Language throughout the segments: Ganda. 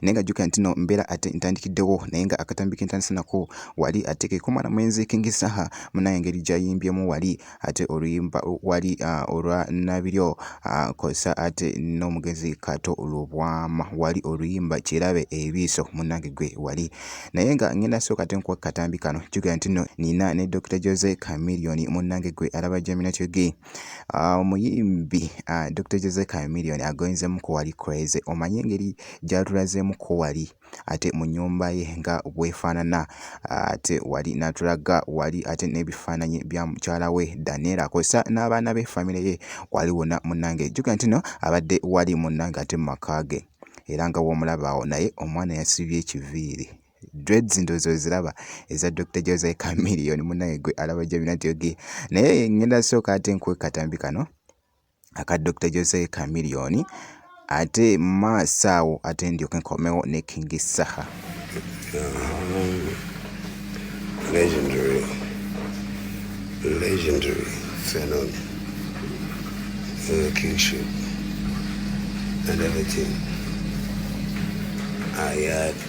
naye nga jjukira nti no mbeera ate ntandikiddewo naye nga akatambi ke ntandise nako wali ate ke komala mwenzi kingi saha munaye engeri gyayimbyemu wali ate oluyimba wali ah, olwa nabiryo ah, kosa ate n'omugenzi kato olwobwama wali oluyimba kirabe ebiiso munange gwe wali naye nga ngenda sooka ate nkuwa katambi kano jjukira nti no nina ne dr jose camilioni munange gwe alaba jamina kyoge Ah, omuyimbi ah, dr jose camilion agoyinzemu ko wali crazy omanye engeri gyatulazemu ko wali ate mu nyumba ye nga bwefaanana ah, ate wali natulaga wali ate n'ebifaananyi bya mukyala we danela kosa n'abaana be famire ye wali wona munange juga ntino abadde wali munange ate mu maka ge era nga womulabaawo naye omwana yasibye ekiviiri dreads ndozi oziraba eza dr jose camilion munaye gwe alaba jabina nti oge naye ngenda sooka ate nkuwe katambi kano aka dr jose camilion ate maaso awo ate ndyoke nkomewo ne king saha legendary legendary fenon uh, kingship and everything ayat ah,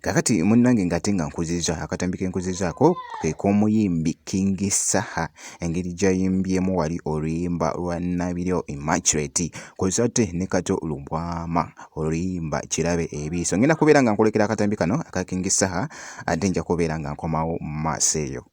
Kakati munnange ng'ate nga nkuzizza akatambi ke nkuzizaako ke k'omuyimbi King Saha engeri gy'ayimbyemu wali oluyimba lwa Nabiryo Immaculate kw'ossa ate ne Kato Lubwama oluyimba Kirabe Ebiiso. Ngenda kubeera nga nkulekera akatambi kano aka King Saha ate nja kubeera nga nkomawo mu maaso eyo.